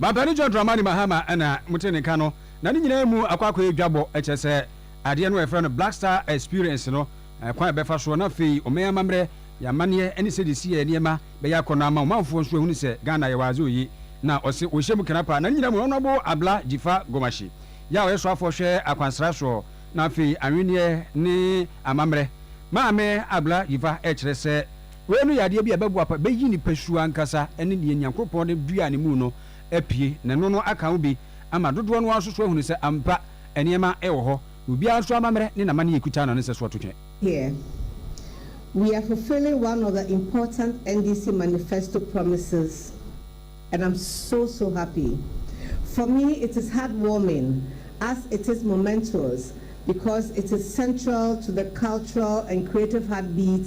Mampanin John Dramani Mahama na mote ne nka no, na ne nyinaa mu akɔ akɔyɛ dwabɔ, kyerɛ sɛ, adeɛ no a yɛfrɛ no Black Star Experience no, kwan a yɛbɛfa soɔ na afei ɔman amammerɛ, yɛn amanneɛ ne sɛdeɛ yɛsi yɛn nneɛma bɛyɛ akɔ no ama ɔmanfoɔ nso ahunu sɛ Ghana yɛwɔ adze oye. Na ɔse wɔhyɛ mu kena paa, na ne nyinaa mu Honourable Abla Jifa Gomashi yɛ a ɔyɛ soafoɔ hwɛ akwansra soɔ na afei anwenneɛ ne amammerɛ. Maame Abla Jifa kyerɛ sɛ, Wei no yɛ adeɛ bi a ɛbɛguapa, bɛyi nipasua ankasa ne deɛ Nyankropɔn de duaa ne mu no apue, na ɛno no aka ho bi ama dodoɔ no ara nso so ahunu sɛ ampa nneɛma wɔ hɔ, na obiara nso amammerɛ ne n'amanneɛ kuta no a ne nsɛsoɔ ato twɛn. Here we are fulfilling one of the important NDC manifesto promises and I'm so so happy. For me it is heart warming as it is momentous because it is central to the cultural and creative heartbeat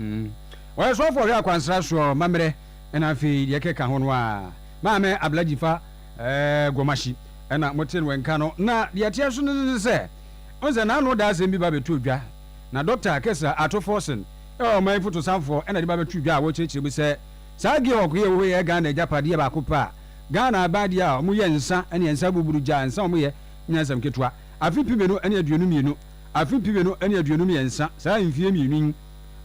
Ɔyɛ sɔfo a ɔhwɛ akwansra soɔ mammerɛ ɛna afei deɛ ɛkeka ho no a Maame Ablaji fa Gwamahyi ɛna motee no nka no na deɛ ɛteɛ so no ne sɛ wohu sɛ n'ano da asɛm bi ba bɛtoo dwa na Dɔkta Kessler Ato Forson ɛyɛ ɔman fotosanfoɔ ɛna de ba bɛtoo dwa a wɔkyerɛkyerɛ mu sɛ saa Georg yi a ɛwɔ hɔ yi yɛ Ghana agyapadeɛ baako pɛ a Ghana aban deɛ a wɔyɛ nsa ɛne nsa abuburugya nsa a wɔyɛ nyansam ketewa afe pi mmienu ɛne aduonu mmienu afe mpem mmienu ne aduonum mmiɛnsa, saa mfie mmienu yi,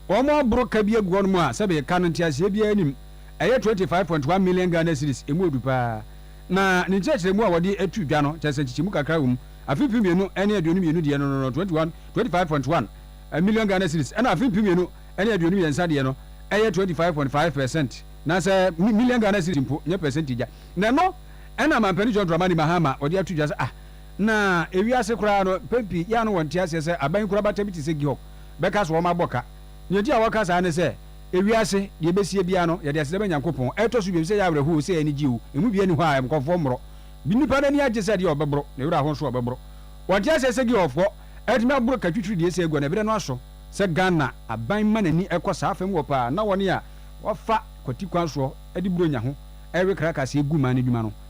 wɔaboro ka bi agu hɔnom a sɛbe ka no nteaseɛ biara nnim, ɛyɛ twenty five point one million Ghana cedis, ɛmu ɔdu pa ara. Na ne nkyerɛkyerɛmu a wɔde to dwa no kyerɛ sɛ nkyekyɛmu kakra wɔ mu, afe mpem mmienu ne aduonum mmienu deɛ no no twenty one, twenty five point one, million Ghana cedis, ɛna afe mpem mmienu ne aduonum mmiɛnsa deɛ no ɛyɛ twenty five point five per cent, anaasɛ million Ghana cedis mpo, nyɛ pɛsɛntage a. Na ɛno na Mampanin John Dramani Mahama ɔde ato dwa sɛ ah, Na ewiase koraa no, mpɛn pii yɛ a na wɔnte aseɛ sɛ aban nkorabata bi te sɛ Georg bɛka sɛ wɔabɔ ka. Nea enti a wɔka saa ne sɛ, Ewiase, deɛ ɛbɛsie biara no, yɛde aseda ma Nyankopɔn. Ɛtɔ so bio, ɛsɛ sɛ yɛyɛ awerɛhow, ɛsɛ sɛ yɛn ani gye o, emu biara nni hɔ a nkurɔfoɔ mmoro. Nnipa no ani agye sɛ deɛ ɔbɛboro, ne werɛ aho nso a ɔbɛboro. Wɔnte aseɛ sɛ Georgfoɔ atumi aboro ka twitwiri deɛ ɛsɛ agua no, ɛberɛ no aso. Sɛ Ghana aban ma n'ani kɔ saa fa mu hɔ paa na wɔne a wɔafa kwati kwan soɔ de Buronya ho ɛwe krakasɛ gu man no adwuma no,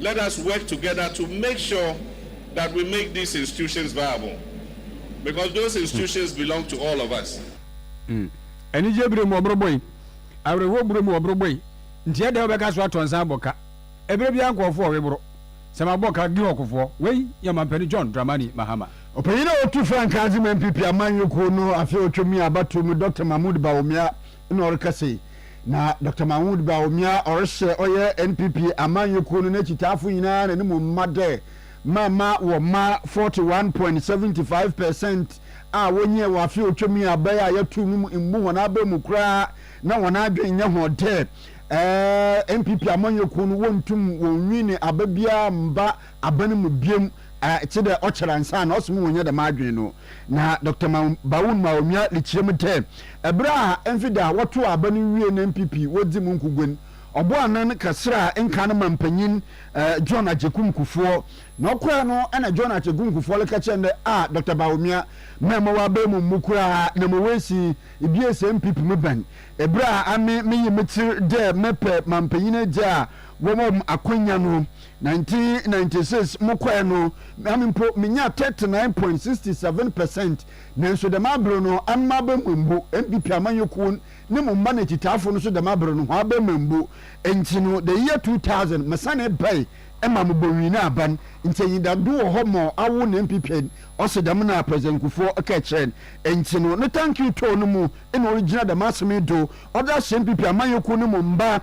Let us work together to make sure that we make these institutions viable because those institutions belong to all of us. Anigye bere mu ɔboro bɔ yi, awerɛhoɔ buro mu ɔboro bɔ yi, nti ɛdɛn wobɛka so atɔ nsa abɔ ka? Ɛberɛ biara nkorɔfoɔ ɔwe boro, sɛ mabɔ ka, Gihɔ kofoɔ, wei yɛ Ɔmampanin John Dramani Mahama. Ɔpanyin a ɔtu frankaa dze ma NPP amanyɔkuo no afe a ɔtwam yi abatoɔ mu Doctor Mahmood Bawumia na ɔreka sei, na Doctor Mahood Bawumia a ɔrehyɛ ɔyɛ NPP amanyɛ kuo no n'akyitaafo nyinaa n'anim mma dɛ, mamma wɔmma 41.75 per cent a wɔnyiɛ wɔ afe a ɔtwam yi aba yi a yɛato mu mu mmu wɔn aba mu koraa na wɔn adwene nyɛ ho dɛ ɛɛ NPP amanyɛ kuo no wɔntum wɔnwi ne aba biara mma aban mu biom a tse dɛ ɔkyɛr ansaana ɔse mo wonnya dɛm adwen no. Na Doctor Maung-Baoun ma onua Lichie mu dɛ, ber a mfe da a wɔtoo aban no wiei na NPP wodzi mu nkogua no, ɔboaa anan kasraa nkaa no manpanyin John Agyekum Kufuor. Na ɔkɔe no na John Agyekum Kufuor reka kyerɛ no dɛ, Ah, Doctor Bawumia, mɛmma w'aban mu mmu koraa na ma woesi Ibiesa NPP mu ban. Ber a ame meyee me tsir dɛ mɛpɛ manpanyin egya a wɔma hom akwanya no, 1996 mokɔe no, ame mpo minyaa 39.67 percent, nanso dɛm aber no ano m'abɛma mmbu, NPP amanyɔkuw ne mo mba na etsitsafo no so dɛm aber no hɔn abɛma mmbu. Ntsi no, the year 2000 mesanee bae ma mobowin aban, ntsi enyidado wɔ hɔ ma awo na NPP nd, ɔse dɛm na President Kufuor kɛɛ kyerɛɛ n'. Ntsi no, ne thank you tɔɔ no mu na origyina dɛm asem yi do ɔdze ahyɛ NPP amanyɔkuw ne mo mba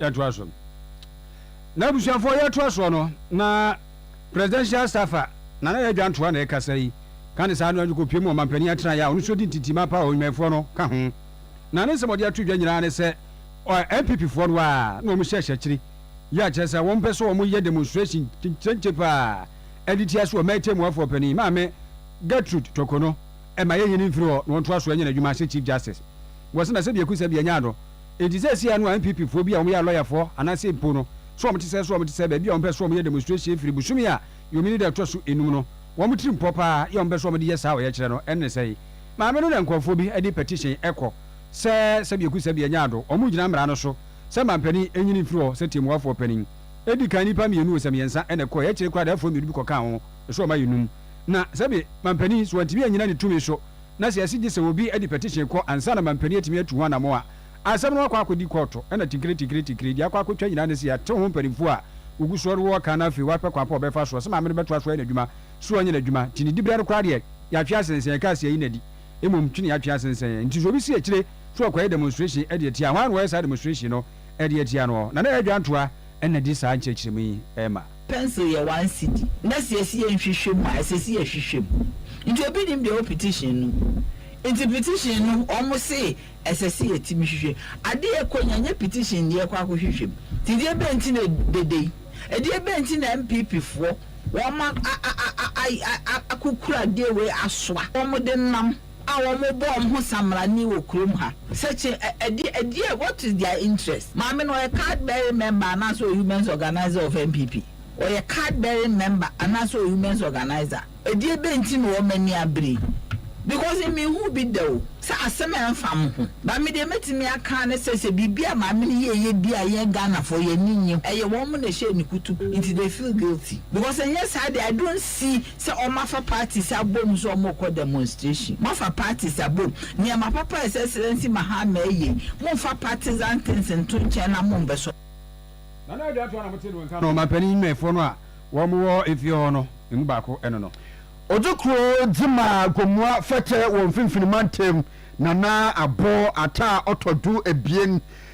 yɛtoa so. N'abusuafoɔ yɛtoa soɔ no na Presidential Staffer Nana Ado Adwoantoa na ɛkasa yi ka ne saa no anyi kɔpie mu ɔmanpanin atenaeɛ a ɔno nso di ntintim apa a ɔnwumayɛfoɔ no ka ho na ne nsɛm ɔde ato dwa nyinaa ne sɛ NPP foɔ no ara na wɔn hyɛhyɛ akyiri yi a kyerɛ sɛ wɔn pɛ sɛ wɔn yɛ demonstration kyenkye paa de tia so ɔman tɛmuafoɔ panin maame Gertrude Toko no ɛma yɛnyi no mfiri hɔ na wɔntoa so nyɛ n'adwuma sɛ Chief Justice wɔ sɛ na sɛdeɛ ɛku sɛ deɛ ɛnyɛ ano Enti seesei ano a NPP foɔ bi a wɔyɛ alɔyafoɔ anaasɛ mpo no so wɔn te sɛ so wɔn te sɛ baabi a wɔn pɛ so wɔn yɛ demonstration firi bosome a yɔmini da ɛtɔ so enum no wɔn tiri mpɔ paa yɛ wɔn pɛ so wɔn de yɛ saa ɔyɛkyerɛ no ɛnne sɛn maame no na nkorɔfoɔ bi de petition ɛkɔ sɛ sɛdeɛ ku sɛdeɛ nya ado wɔn gyina mmara no so sɛ manpanin ɛnyini mfiri hɔ sɛ tiɛmuafoɔ panin ɛdi kan nipa mienu o sɛ miɛnsa na ɛkɔ yɛ kyere koraa da ɛfoɔ mienu bi kɔ kaa ho so wɔn ayɛ num na sɛdeɛ manpanin so wɔntumi anyina ne tumi so na sɛ ɛse gye sɛ obi de petition kɔ ansa na mampanin atumi atu ho anamɔn a, asɛm no akɔ akɔdi kɔɔto, ɛna tinkiri tinkiri tinkiri, deɛ akɔ akɔtwa nyinaa ne se yɛatew ho mpanimfoɔ a wɔgu soɔ rewɔ kan no afei wapɛ kwan pa a ɔbɛfa soɔ sɛ maame no bɛtoa so ayɛ n'adwuma so anyɛ n'adwuma nti ne diberɛ no koraa deɛ yɛatwe asensɛn yɛkaa se ayi no adi mmom twe ne yɛatwe asensɛn yɛn nti so obi se akyire so ɔkɔyɛ demonstration de atia hwan na wɔyɛ saa demonstration no de atia noɔ na na yɛn adwantoa na di saa nkyerɛkyerɛmu yi ma. Pencil yɛ one cedi na sɛ yɛsi yɛ nhwehwɛ mu a ɛsɛ sɛ yɛhwehwɛ mu nti obi nim deɛ ɛwɔ petition no mu nti petition no wɔn se ɛsɛ sɛ yɛtumi hwehwɛ adeɛ ɛkɔ nya nyɛ petition deɛ ɛkɔ akɔ hwehwɛ mu nti deɛ bɛn nti na dede yi ɛdeɛ bɛn nti na NPP foɔ wɔn a a a a a akokura deɛ wei asoa wɔn de nam a wɔbɔ wɔn ho samrani wɔ kurom ha sɛ kye ɛ ɛdeɛ ɛdeɛ what is their interest maame no ɔyɛ card bearing member anaasɛ ɔyɛ women's organiser of NPP ɔyɛ card bearing member anaasɛ ɔyɛ women's organiser ɛdeɛ bɛ nti na wɔn ani abere yi because me hu bi da o sɛ asɛm a ɛnfa mo ho ba me deɛ mɛtumi aka ne sɛ sɛ biribi a maame no yɛ yɛ bi a yɛn Ghanafoɔ yɛn ani nnye ho ɛyɛ wɔn na ɛhyɛɛ ne kutu nti they feel guilty because ɛnyɛ saa deɛ I don't see Sɛ wɔn afa parties abom sɛ wɔn rekɔ demonstration, mo afa parties abom, nneɛma papa a His Excellency Mahama ɛyɛ yi, mo nfa partisan things nto nkyɛn na mo mbɛ sɔ. Nana Addo Atwah na mo te no nka no, ɔmanpanin mmɛfoɔ no a wɔn wɔ efie hɔ no emu baako ɛno no. Ɔdze kuro dze ma Gomoa fɛtɛ wɔ Mfinfini mantam, Nana Abbo Attah ɔtɔ do ebien.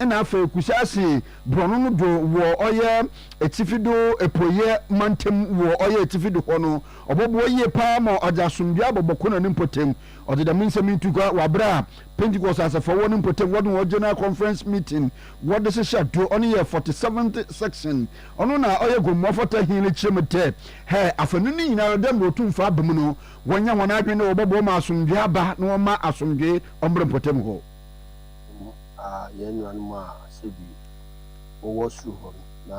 Nna afei Kusasi borɔno no do wɔ ɔyɛ etsifi do epueiɛ mantamu wɔ ɔyɛ etsifi do hɔ no, ɔbɔboa yie paa ma ɔdze asomdwee abɔbɔ kõ na ne mpɔtamu. Ɔdze dɛm nsɛm yi tu kua wɔ aber a Pentecost asafo a ɔwɔ ne mpɔtamu wɔdze hɔn General Conference Meeting wɔdze hyehyɛ do, ɔno yɛ forty seventh section. Ɔno na ɔyɛ Gomoa Fata He no kyerɛ mu dɛ, hɛ afanu no nyinara dɛ mbrɛ otumfo aba mu no, wɔnyɛ hɔn adwen dɛ wɔbɔboa ma asomdwee aba na wɔmma asomdwee ɔmbra mpɔtamu hɔ. mmom a yɛn nuanom a sɛbi wɔwɔ soro hɔ no, na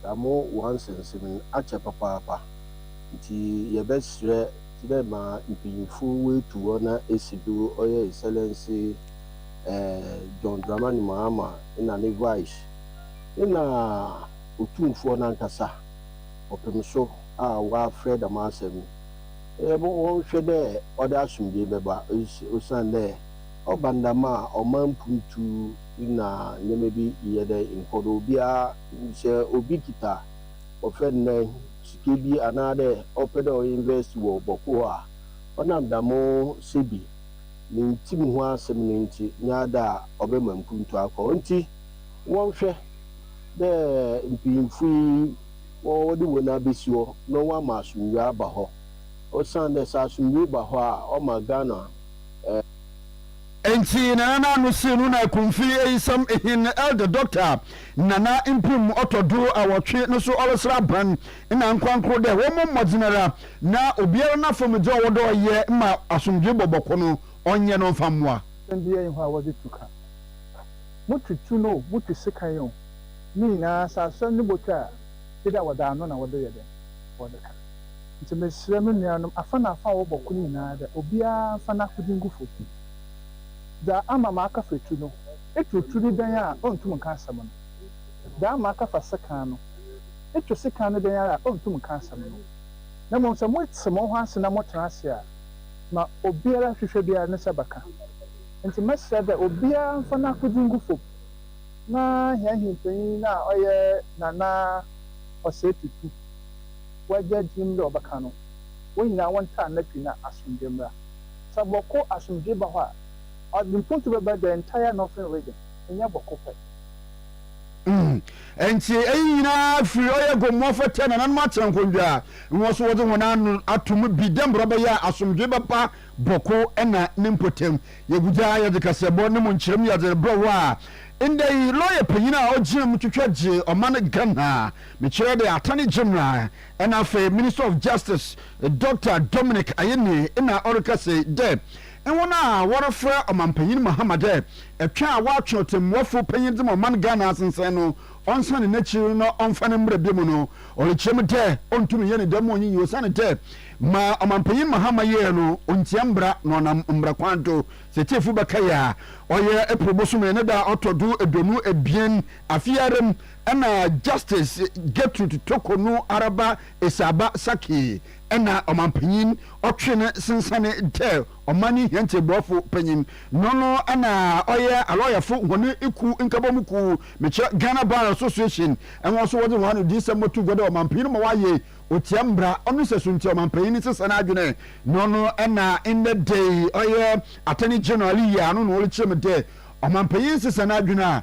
saa mo wansɛnsɛm no akyɛ papaapa. Ntsi yɛbɛserɛ dɛ ma mpanyimfo woetu hɔ na esi do, Ɔyɛ Excellency John Dramani Mahama na ne Vice, nna Otumfoɔ no ankasa ɔpem so a ɔafrɛ dɛm asɛm no, wɔnhwɛ dɛ ɔdze asomdwee bɛba osiandɛ, Ɔba no dɛm a, ɔma mpuntu na ndzɛmba bi yɛ dɛ nkɔ do. Obiara, sɛ obi kitsa wɔfrɛ no dɛn, sika bi anaadɛ ɔpɛ dɛ ɔinvɛst wɔ bɔkɔɔ a, ɔnam dɛm sebi ne ntsi mu ho asɛm no ntsi, nnyɛ ada a ɔbɛma mpuntu akɔ. Ntsi wɔnhwɛ dɛ mpanyimfo yi wɔdze hɔn abesi hɔ na wɔama asomdwee aba hɔ, osiandɛ sɛ asomdwee ba hɔ a, ɔma Ghana Ntsi Nana n'ano sii no na Kumfi eyisam hɛn elder doctor a Nana mprem ɔtɔ do awɔtwe no so ɔreserɛ aban na ankorankor dɛ wɔmbɔ mbɔdzen ara na obiara n'afamu dza ɔwɔ dɛ ɔyɛ ma asomdwee bɔbɔkɔ no ɔnyɛ na ɔmfa mboa. Ndɛ yɛnye hɔn a wɔdze tu ka, mutu tu no o, mutu sekan o, ne nyinaa sɛ asɔr no botwa a, gyedɛ wɔdze ano na wɔdze yɛ dɛn, wɔdze ka. Ntsi meserɛ mo nuanom, afa na afa a wɔbɔ kor nyinara dɛ obiara mfa n'akodze ngu famu. Dza ama maaka fa etu no, etu tu no dɛn a onntum nnka asɛm no? Dza ama maaka fa sekan no, etu sekan no dɛn ara a onntum nnka asɛm no? Na mbom sɛ motse mo ho ase na motsena ase a, ma obiara hwehwɛ biara ne nsa bɛka. Ntsi mɛserɛ dɛ obiara mfa n'akodze ngu famu, na hɛn hempanyin no a ɔyɛ Nana Osei Tutu, wɔagya dzin dɛ wɔbɛkã no, hɔn nyina wɔntraa n'efi na asomdwee mbra. Sɛ bɔkõ asomdwee ba hɔ a, ɔdze mpontu bɛba the entire northern region, nnyɛ bɔkõ pɛ. Ntsi iyi nyina fir ɔyɛ gõ mu ɔfata nananom atsena nkõndua a nna so wɔdze hɔn ano ato mu bi dɛ mbrɛ ɔbɛyɛ a asomdwee bɛba bɔkõ na ne mpɔtamu. Yegudza a yɛdze kaseɛbɔ no mu nkyerɛmu yɛdze rebrɛ wo a ndɛ yi lɔya panyin a ogyina mu twitwa gye ɔman Ghana Mekyerɛ de Attorney General na afei Minister of Justice Dɔkta Dominic Ayine na ɔreka sei dɛ, Hɔn a wɔrefrɛ Ɔmampanyin Mahama dɛ ɛtwe a wɔatwe ɔtsɛmbuafo panyin dze ma ɔman Ghana asensɛn no, ɔnsan n'ekyir na ɔmfa no mbra bio mu no, ɔrekyerɛ mu dɛ onntum nnyɛ no dɛm ma onyinyi osiandɛ ma Ɔmampanyin Mahama yɛe no, onntsia mbra na ɔnam mbra kwan do. Sɛ tsiefo bɛkae a, ɔyɛ April bosoom no ne da a ɔtɔ do eduonu ebien Afe ara mu na Justice Gertrude Toko no ara ba Esaba Sackey na Ɔmanpanyin ɔtwe no sensane dɛ ɔman no hɛn tsebɔfo panyin. No no na ɔyɛ alɔyɛfo hɔn kuw nkabɔmu kuw, mekyerɛ Ghana Bar Association. Hɔn so wɔdze hɔn anodziyisɛm bɔto gua dɛ ɔmanpanyin no ma wɔayɛ otsia mbra. Ɔno nsɛso ntsi ɔmanpanyin no sesa n'adwen. No no na ndɛ da yi ɔyɛ Attorney General yi a no na ɔrekyerɛ mu dɛ ɔmanpanyin sesa n'adwen a,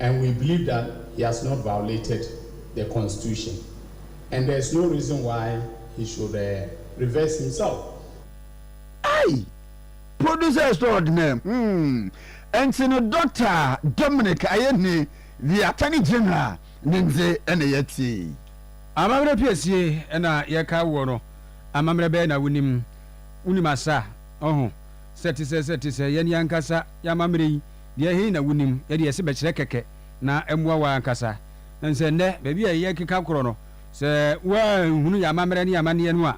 And we believe that he has not violated the constitution and there is no reason why he should reverse himself. Ei! Producer extraordinaire hmm ɛnti no Doctor Dominic Ayeni the Attorney General ne ndze na yɛtsie yi? Amammerɛ pii sie na yɛka woɔ no amammerɛ bɛɛ na wonim? Wonim asa? Ɔho sɛ te sɛ sɛ te sɛ yɛn yɛn ankasa yɛn amammerɛ yi. Deɛ he na wonim? Yɛde yɛse bɛkyerɛ kɛkɛ na ammua wo ankasa. Ɛne sɛ nnɛ baabi a yɛkeka korɔ no, sɛ woanhunu yɛn amammerɛ ne yɛn amanneɛ no a,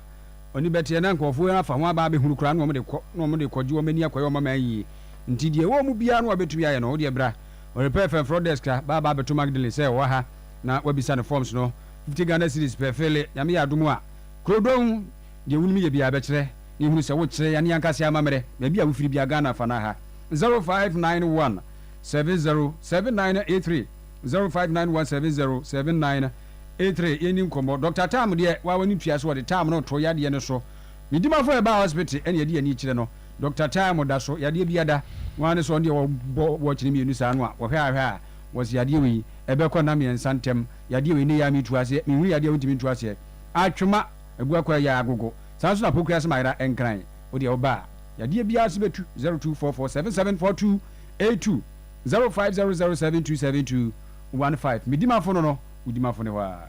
w'ani bɛteɛ na nkorɔfoɔ afa ho aba abɛhunu koraa na wɔde kɔ na wɔde kɔgye wɔn ani akɔyɛ wɔn aman yie. Nti deɛ ɛwɔ mu biara no a wobɛtumi ayɛ no, wodeɛ bra. Worepɛ fɛ frɔ desk a, ba aba abɛto Magdalene sɛ ɔwɔ ha na woabisa no forms no, fifty Ghana cedis pɛ fele, Nyame yɛ adom a. Krodon! Deɛ wonim yɛ biaa bɛkyerɛ ne hunu sɛ wokyerɛ yɛn ankasa amammerɛ baabi a wofiri biaa Ghana fa no ha 0591 707983 0591 707983 yɛnni nkɔmmɔ Doctor Tam deɛ waa w'ani tua so wɔde Tam no too yadeɛ no so ne dimafo a ɛbaa hospital ɛne ɛde ani kyerɛ no Doctor Tam da so yadeɛ biaa da ho ara ne sɛ ɔno deɛ wɔbɔ watch no mmienu saa no a wɔhwɛ a hwɛ a wɔse yadeɛ wei ɛbɛkɔ nna mmiɛnsa ntɛm yadeɛ wei nnɛ yi ara metu aseɛ menhunu yadeɛ a wontumi ntu aseɛ atwema Agu akɔ ayɛ agogo. Saa nso na apokua asɛm ayera nkran. Wo deɛ woba a, yadeɛ biara so bɛtu. 0244774282 0500727215 Medi m'afono no, wodi m'afono hɔ ara.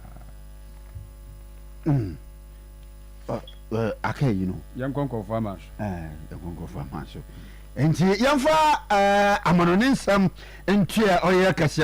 Aka ayi no. Yɛnkɔ nkurɔfoɔ aman so. Yɛnkɔ nkurɔfoɔ aman so. Nti yɛmfa amanɔne nsɛm ntua ɔyɛ kɛseɛ.